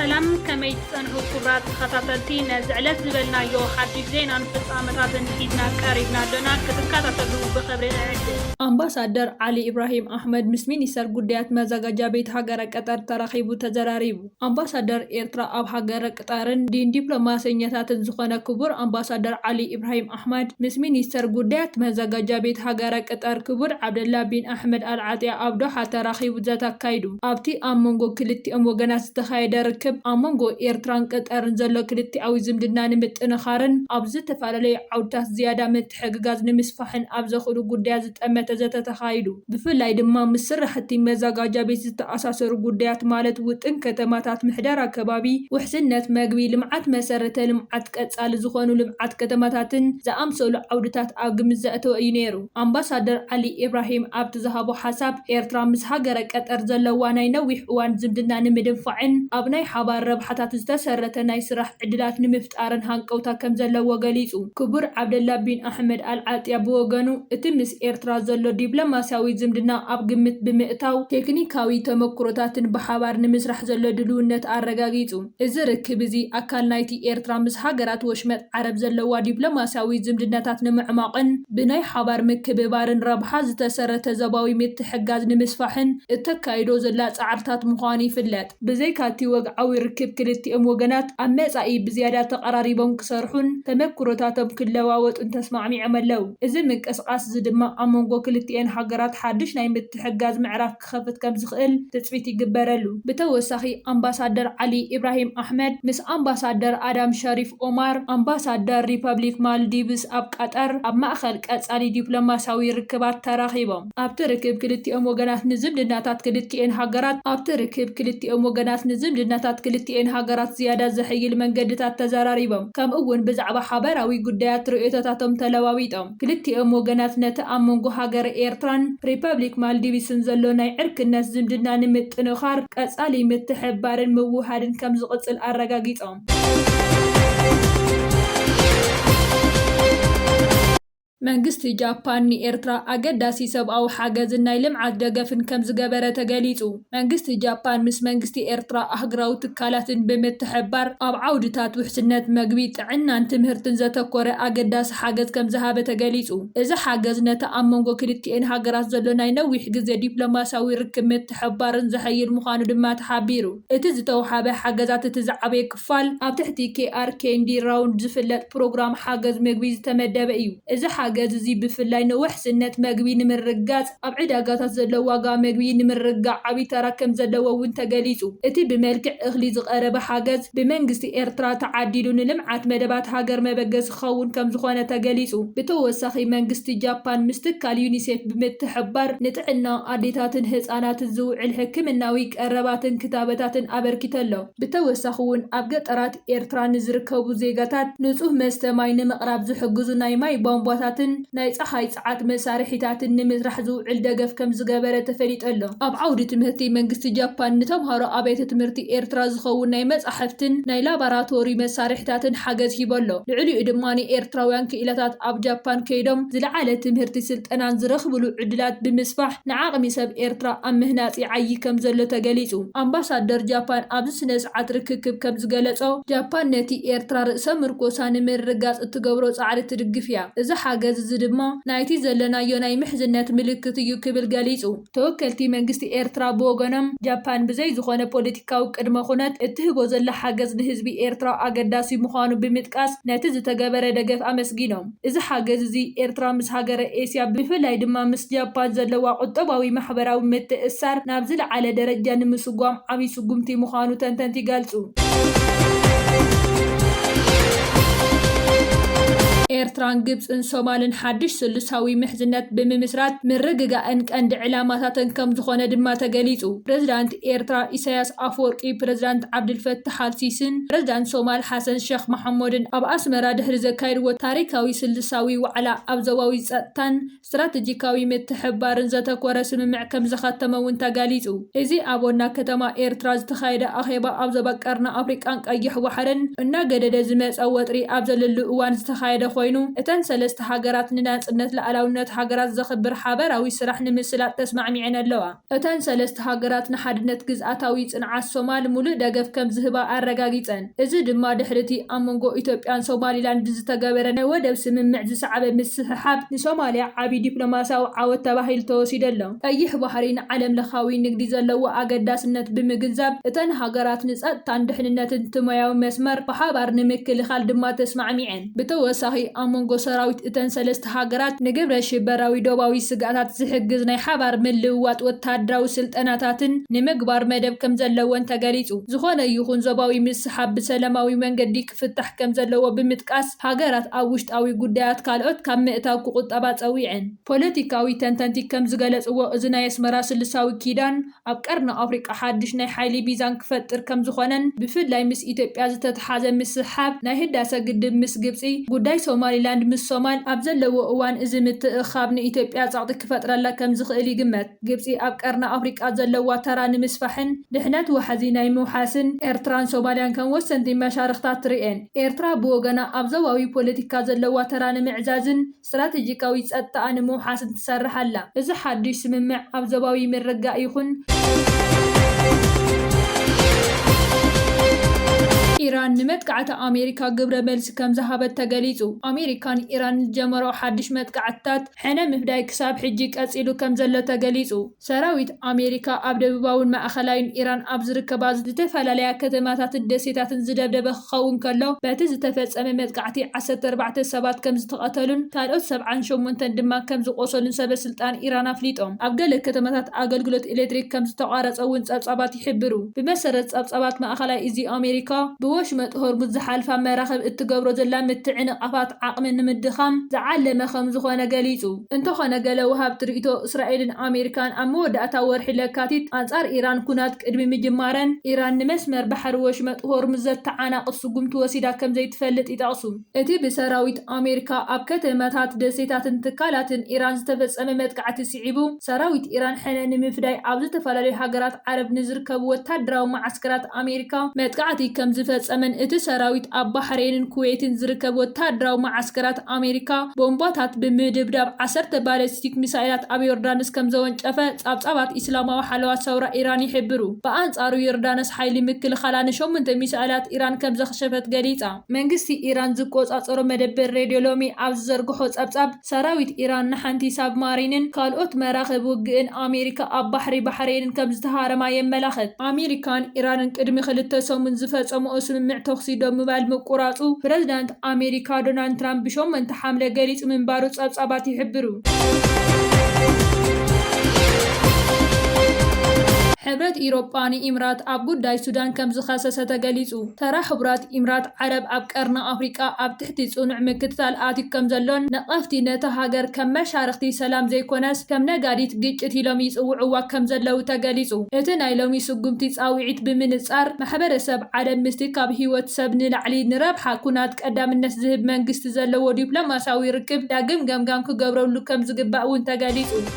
ሰላም ከመይ ትጸንሑ ኩብራት ተኸታተልቲ ነዚ ዕለት ዝበልናዮ ሓድሽ ዜናን ፍጻመታትን ሒዝና ቀሪብና ኣሎና ክትከታተሉ ብኽብሪ እዕድም ኣምባሳደር ዓሊ ኢብራሂም ኣሕመድ ምስ ሚኒስተር ጉዳያት መዘጋጃ ቤት ሃገረ ቀጠር ተራኺቡ ተዘራሪቡ። ኣምባሳደር ኤርትራ ኣብ ሃገረ ቅጣርን ዲን ዲፕሎማሰኛታትን ዝኾነ ክቡር ኣምባሳደር ዓሊ ኢብራሂም ኣሕመድ ምስ ሚኒስተር ጉዳያት መዘጋጃ ቤት ሃገረ ቅጠር ክቡር ዓብደላ ቢን ኣሕመድ ኣል ዓጥያ ኣብ ዶሓ ተራኺቡ ዘተ ኣካይዱ። ኣብቲ ኣብ መንጎ ክልቲኦም ወገናት ዝተኻየደ ርክብ ኣብ መንጎ ኤርትራን ቅጠርን ዘሎ ክልቲኣዊ ዝምድና ንምጥንኻርን ኣብ ዝተፈላለዩ ዓውድታት ዝያዳ ምትሕግጋዝ ንምስፋሕን ኣብ ዘኽእሉ ጉዳያት ዝጠመተ ዘተ ተኻይዱ። ብፍላይ ድማ ምስ ስራሕቲ መዛጋጃ ቤት ዝተኣሳሰሩ ጉዳያት ማለት ውጥን ከተማታት፣ ምሕደራ ከባቢ፣ ውሕስነት መግቢ፣ ልምዓት መሰረተ ልምዓት፣ ቀፃሊ ዝኾኑ ልምዓት ከተማታትን ዝኣምሰሉ ዓውድታት ኣብ ግምት ዘእተወ እዩ ነይሩ። ኣምባሳደር ዓሊ ኢብራሂም ኣብቲ ዝሃቦ ሓሳብ፣ ኤርትራ ምስ ሃገረ ቀጠር ዘለዋ ናይ ነዊሕ እዋን ዝምድና ንምድንፋዕን ኣብ ናይ ሓባር ረብሓታት ዝተሰረተ ናይ ስራሕ ዕድላት ንምፍጣርን፣ ጣርን ሃንቀውታ ከም ዘለዎ ገሊጹ። ክቡር ዓብደላ ቢን ኣሕመድ ኣል ዓጥያ ብወገኑ፣ እቲ ምስ ኤርትራ ዘሎ ዲፕሎማስያዊ ዝምድና ኣብ ግምት ብምእታው፣ ቴክኒካዊ ተመክሮታትን ብሓባር ንምስራሕ ዘሎ ድልውነት ኣረጋጊጹ። እዚ ርክብ እዚ፣ ኣካል ናይቲ ኤርትራ ምስ ሃገራት ወሽመጥ ዓረብ ዘለዋ ዲፕሎማስያዊ ዝምድናታት ንምዕሟቕን ብናይ ሓባር ምክብባርን ረብሓ ዝተሰረተ ዞባዊ ምትሕግጋዝ ንምስፋሕን እተካይዶ ዘላ ጻዕርታት ምዃኑ ይፍለጥ። ብዘይካ እቲ ወግዓዊ ርክብ ክልቲኦም ወገናት ኣብ መጻኢ ብዝያዳ ተቐራሪቦም ክሰርሑን ተመኩሮታቶም ክለዋወጡን ተስማዕሚዖም ኣለው። እዚ ምንቅስቓስ እዚ ድማ ኣብ መንጎ ክልቲኤን ሃገራት ሓድሽ ናይ ምትሕግጋዝ ምዕራፍ ክኸፍት ከም ዝኽእል ትጽቢት ይግበረሉ። ብተወሳኺ ኣምባሳደር ዓሊ ኢብራሂም ኣሕመድ ምስ ኣምባሳደር ኣዳም ሸሪፍ ኦማር ኣምባሳደር ሪፐብሊክ ማልዲቭስ ኣብ ቃጠር ኣብ ማእከል ቀጻሊ ዲፕሎማስያዊ ርክባት ተራኺቦም። ኣብቲ ርክብ ክልቲኦም ወገናት ንዝምድናታት ክልቲኤን ሃገራት ኣብቲ ርክብ ክልቲኦም ወገናት ንዝምድናታት ክልቲኤን ሃገራት ዝያዳ ዘሐይል መንገድታት ተዘራሪቦም ከምኡ'ውን ብዛዕባ ሓበራዊ ጉዳያት ርእይቶታቶም ተለዋዊጦም። ክልቲኦም ወገናት ነቲ ኣብ መንጎ ሃገረ ኤርትራን ሪፐብሊክ ማልዲቭስን ዘሎ ናይ ዕርክነት ዝምድና ንምጥንኻር ቀጻሊ ምትሕብባርን ምውህሃድን ከምዝቕጽል ኣረጋጊጾም። መንግስቲ ጃፓን ንኤርትራ ኣገዳሲ ሰብኣዊ ሓገዝን ናይ ልምዓት ደገፍን ከምዝገበረ ተገሊጹ። መንግስቲ ጃፓን ምስ መንግስቲ ኤርትራ ኣህግራዊ ትካላትን ብምትሕብባር ኣብ ዓውድታት ውሕስነት መግቢ፣ ጥዕናን ትምህርትን ዘተኮረ ኣገዳሲ ሓገዝ ከምዝሃበ ተገሊጹ። እዚ ሓገዝ ነቲ ኣብ መንጎ ክልቲኤን ሃገራት ዘሎ ናይ ነዊሕ ግዜ ዲፕሎማስያዊ ርክብ ምትሕብባርን ዘሐይል ምዃኑ ድማ ተሓቢሩ። እቲ ዝተውሃበ ሓገዛት እቲ ዝዓበየ ክፋል ኣብ ትሕቲ ኬኣር ኬንዲ ራውንድ ዝፍለጥ ፕሮግራም ሓገዝ ምግቢ ዝተመደበ እዩ። እዚ ሓገዝ እዚ ብፍላይ ንውሕስነት መግቢ ንምርግጋጽ ኣብ ዕዳጋታት ዘሎ ዋጋ መግቢ ንምርግጋዕ ዓቢ ተራ ከምዘለዎ እውን ተገሊጹ። እቲ ብመልክዕ እኽሊ ዝቐረበ ሓገዝ ብመንግስቲ ኤርትራ ተዓዲሉ ንልምዓት መደባት ሃገር መበገሲ ክኸውን ከምዝኾነ ተገሊፁ። ብተወሳኺ መንግስቲ ጃፓን ምስ ትካል ዩኒሴፍ ብምትሕብባር ንጥዕና ኣዴታትን ህፃናትን ዝውዕል ሕክምናዊ ቀረባትን ክታበታትን ኣበርኪተ'ሎ። ብተወሳኺ'ውን ኣብ ገጠራት ኤርትራ ንዝርከቡ ዜጋታት ንፁህ መስተ ማይ ንምቕራብ ዝሕግዙ ናይ ማይ ቧንቧታትን ናይ ፀሓይ ጸዓት መሳርሒታትን ንምስራሕ ዝውዕል ደገፍ ከምዝገበረ ተፈሊጠሎ። ኣብ ዓውዲ ትምህርቲ መንግስቲ ጃፓን ንተምሃሮ ኣብያተ ትምህርቲ ኤርትራ ዝኸውን ናይ መጻሕፍትን ናይ ላባራቶሪ መሳርሒታትን ሓገዝ ሂቡ'ሎ። ልዕሊኡ ድማ ኤርትራውያን ክኢላታት ኣብ ጃፓን ከይዶም ዝለዓለ ትምህርቲ ስልጠናን ዝረኽብሉ ዕድላት ብምስፋሕ ንዓቕሚ ሰብ ኤርትራ ኣብ ምህናጽ ይዓዪ ከምዘሎ ተገሊጹ። ኣምባሳደር ጃፓን ኣብዚ ስነስርዓት ርክክብ ከምዝገለጾ፣ ጃፓን ነቲ ኤርትራ ርእሰ ምርኮሳ ንምርግጋጽ እትገብሮ ጻዕሪ ትድግፍ'ያ። እዚ ሓገዝ እዚ ድማ ናይቲ ዘለናዮ ናይ ምሕዝነት ምልክት እዩ ክብል ገሊጹ። ተወከልቲ መንግስቲ ኤርትራ ብወገኖም፣ ጃፓን ብዘይ ዝኾነ ፖለቲካዊ ቅድመ ኩነት እትህቦ ዘላ ሓገዝ ንህዝቢ ኤርትራ ኣገዳሲ ምዃኑ ብምጥቃስ ነቲ ዝተገበረ ደገፍ ኣመስጊኖም። እዚ ሓገዝ እዚ ኤርትራ ምስ ሃገረ ኤስያ ብፍላይ ድማ ምስ ጃፓን ዘለዋ ቁጠባዊ ማሕበራዊ ምትእስሳር ናብ ዝለዓለ ደረጃ ንምስጓም ዓቢ ስጉምቲ ምዃኑ ተንተንቲ ይገልጹ። ኤርትራን ግብጽን ሶማልን ሓድሽ ስሉሳዊ ምሕዝነት ብምምስራት ምርግጋእን ቀንዲ ዕላማታተን ከምዝኾነ ድማ ተገሊጹ። ፕረዚዳንት ኤርትራ ኢሳይያስ ኣፍወርቂ፣ ፕረዚዳንት ዓብደልፈታሕ ኣል ሲሲን ፕረዚዳንት ሶማል ሓሰን ሸኽ መሓሙድን ኣብ ኣስመራ ድሕሪ ዘካየድዎ ታሪኻዊ ስሉሳዊ ዋዕላ ኣብ ዞባዊ ጸጥታን ስትራተጂካዊ ምትሕብባርን ዘተኮረ ስምምዕ ከምዘኸተመ እውን ተገሊፁ። እዚ ኣብ ዋና ከተማ ኤርትራ ዝተኻየደ ኣኼባ ኣብ ዞባ ቀርኒ ኣፍሪቃን ቀይሕ ባሕርን እናገደደ ዝመፀ ወጥሪ ኣብ ዘለሉ እዋን ዝተኻየደ ኮይኑ እተን ሰለስተ ሃገራት ንናፅነት ልኣላውነት ሃገራት ዘኽብር ሓበራዊ ስራሕ ንምስላጥ ተስማዕሚዐን ኣለዋ። እተን ሰለስተ ሃገራት ንሓድነት ግዝኣታዊ ጽንዓት ሶማል ምሉእ ደገፍ ከም ዝህባ ኣረጋጊጸን፣ እዚ ድማ ድሕሪ'ቲ ኣብ መንጎ ኢትዮጵያን ሶማሊላንድ ብዝተገበረ ናይ ወደብ ስምምዕ ዝሰዓበ ምስሕሓብ፣ ንሶማልያ ዓቢ ዲፕሎማስያዊ ዓወት ተባሂሉ ተወሲዱ'ሎ። ቀይሕ ባሕሪ ንዓለምለኻዊ ንግዲ ዘለዎ ኣገዳስነት ብምግንዛብ፣ እተን ሃገራት ንጸጥታን ድሕንነትን እቲ ሞያዊ መስመር ብሓባር ንምክልኻል ድማ ተስማዕሚዐን። ብተወሳኺ ኣብ መንጎ ሰራዊት እተን ሰለስተ ሃገራት ንግብረ-ሽበራዊ ዶባዊ ስግኣታት ዝሕግዝ ናይ ሓባር ምልውዋጥ ወተሃደራዊ ስልጠናታትን ንምግባር መደብ ከምዘለወን ተገሊጹ። ዝኾነ ይኹን ዞባዊ ምስሕሓብ ብሰለማዊ መንገዲ ክፍታሕ ከምዘለዎ ብምጥቃስ፣ ሃገራት ኣብ ውሽጣዊ ጉዳያት ካልኦት ካብ ምእታው ክቑጠባ ጸዊዐን። ፖለቲካዊ ተንተንቲ ከምዝገለጽዎ እዚ ናይ ኣስመራ ስልሳዊ ኪዳን፣ ኣብ ቀርኒ ኣፍሪቃ ሓድሽ ናይ ሓይሊ ሚዛን ክፈጥር ከምዝኾነን ብፍላይ ምስ ኢትዮጵያ ዝተትሓዘ ምስሕሓብ ናይ ህዳሰ ግድብ ምስ ግብፂ፣ ጉዳይ ሶማሊላንድ ምስ ሶማል ኣብ ዘለዎ እዋን እዚ ምትእኽኻብ ንኢትዮጵያ ፀቕጢ ክፈጥረላ ከምዝኽእል ይግመት። ግብፂ ኣብ ቀርኒ ኣፍሪቃ ዘለዋ ተራ ንምስፋሕን ድሕነት ዋሕዚ ናይ ምውሓስን ኤርትራን ሶማሊያን ከም ወሰንቲ መሻርኽታ ትርእየን። ኤርትራ ብወገና ኣብ ዞባዊ ፖለቲካ ዘለዋ ተራ ንምዕዛዝን፣ ስትራቴጂካዊ ጸጥታኣ ንምውሓስን ትሰርሕ ኣላ። እዚ ሓድሽ ስምምዕ ኣብ ዞባዊ ምርግጋእ ይኹን፣ ኢራን ንመጥቃዕቲ ኣሜሪካ ግብረ መልሲ ከም ዝሃበት ተገሊጹ። ኣሜሪካ ንኢራን ንዝጀመረኦ ሓድሽ መጥቃዕትታት ሕነ ምፍዳይ ክሳብ ሕጂ ቀጺሉ ከም ዘሎ ተገሊጹ። ሰራዊት ኣሜሪካ ኣብ ደቡባዊን ማእኸላይን ኢራን ኣብ ዝርከባ ዝተፈላለያ ከተማታትን ደሴታትን ዝደብደበ ክኸውን ከሎ፣ በቲ ዝተፈጸመ መጥቃዕቲ ዓሰርተ ኣርባዕተ ሰባት ከምዝተቐተሉን ካልኦት ሰብዓን ሸሞንተን ድማ ከምዝቖሰሉን ሰበስልጣን ኢራን ኣፍሊጦም። ኣብ ገለ ከተማታት ኣገልግሎት ኤሌክትሪክ ከምዝተቋረጸ'ውን ጸብጻባት ይሕብሩ። ብመሰረት ጸብጻባት ማእኸላይ እዚ፣ ኣሜሪካ ብወሽመጥ ሆርሙዝ ዝሓልፋ መራኽብ እትገብሮ ዘላ ምትዕንቓፋት ዓቕሚ ንምድኻም ዝዓለመ ከምዝኾነ ገሊጹ። እንተኾነ ገለ ወሃብቲ ርእይቶ እስራኤልን ኣሜሪካን ኣብ መወዳእታ ወርሒ ለካቲት ኣንጻር ኢራን ኵናት ቅድሚ ምጅማረን ኢራን ንመስመር ባሕሪ ወሽመጥ ሆርሙዝ ዘተዓናቕፍ ስጕምቲ ወሲዳ ከም ዘይትፈልጥ ይጠቕሱ። እቲ ብሰራዊት ኣሜሪካ ኣብ ከተማታት፣ ደሴታትን ትካላትን ኢራን ዝተፈጸመ መጥቃዕቲ ስዒቡ፣ ሰራዊት ኢራን ሕነ ንምፍዳይ ኣብ ዝተፈላለዩ ሃገራት ዓረብ ንዝርከቡ ወተሃደራዊ መዓስከራት ኣሜሪካ መጥቃዕቲ ከምዝፈጸመን እቲ ሰራዊት ኣብ ባሕሬንን ኩዌትን ዝርከብ ወተሃደራዊ መዓስከራት ኣሜሪካ ቦምባታት ብምድብዳብ ዓሰርተ ባለስቲክ ሚሳይላት ኣብ ዮርዳኖስ ከምዘወንጨፈ ጻብጻባት ኢስላማዊ ሓለዋ ሰውራ ኢራን ይሕብሩ። ብኣንጻሩ ዮርዳኖስ ሓይሊ ምክልኻላ ንሸሞንተ ሚሳይላት ኢራን ከምዘኽሸፈት ገሊጻ። መንግስቲ ኢራን ዝቆጻጸሮ መደበር ሬድዮ ሎሚ ኣብ ዝዘርግሖ ጸብጻብ፣ ሰራዊት ኢራን ንሓንቲ ሳብማሪንን ካልኦት መራኽብ ውግእን ኣሜሪካ ኣብ ባሕሪ ባሕሬንን ከም ዝተሃረማ የመላኽት። ኣሜሪካን ኢራንን ቅድሚ ክልተ ሰሙን ዝፈጸምኦ ስምምዕ ተኹሲ ደው ምባል ምቁራጹ ፕረዚዳንት ኣሜሪካ ዶናልድ ትራምፕ ብሸሞንተ ሓምለ ገሊጹ ምንባሩ ጸብጻባት ይሕብሩ። ሕብረት ኢሮጳ ንኢምራት ኣብ ጉዳይ ሱዳን ከም ዝኸሰሰ ተገሊጹ። ተራ ሕቡራት ኢምራት ዓረብ ኣብ ቀርኒ ኣፍሪቃ ኣብ እቲ ፅኑዕ ምክትታል ኣትዩ ከም ዘሎን ነቐፍቲ ነታ ሃገር ከም መሻርኽቲ ሰላም ዘይኮነስ ከም ነጋዲት ግጭት ኢሎም ይፅውዕዋ ከም ዘለዉ ተገሊፁ። እቲ ናይ ሎሚ ስጉምቲ ፃውዒት ብምንፃር ማሕበረሰብ ዓለም ምስቲ ካብ ህይወት ሰብ ንላዕሊ ንረብሓ ኩናት ቀዳምነት ዝህብ መንግስቲ ዘለዎ ዲፕሎማሲያዊ ርክብ ዳግም ገምጋም ክገብረሉ ከም ዝግባእ እውን ተገሊፁ።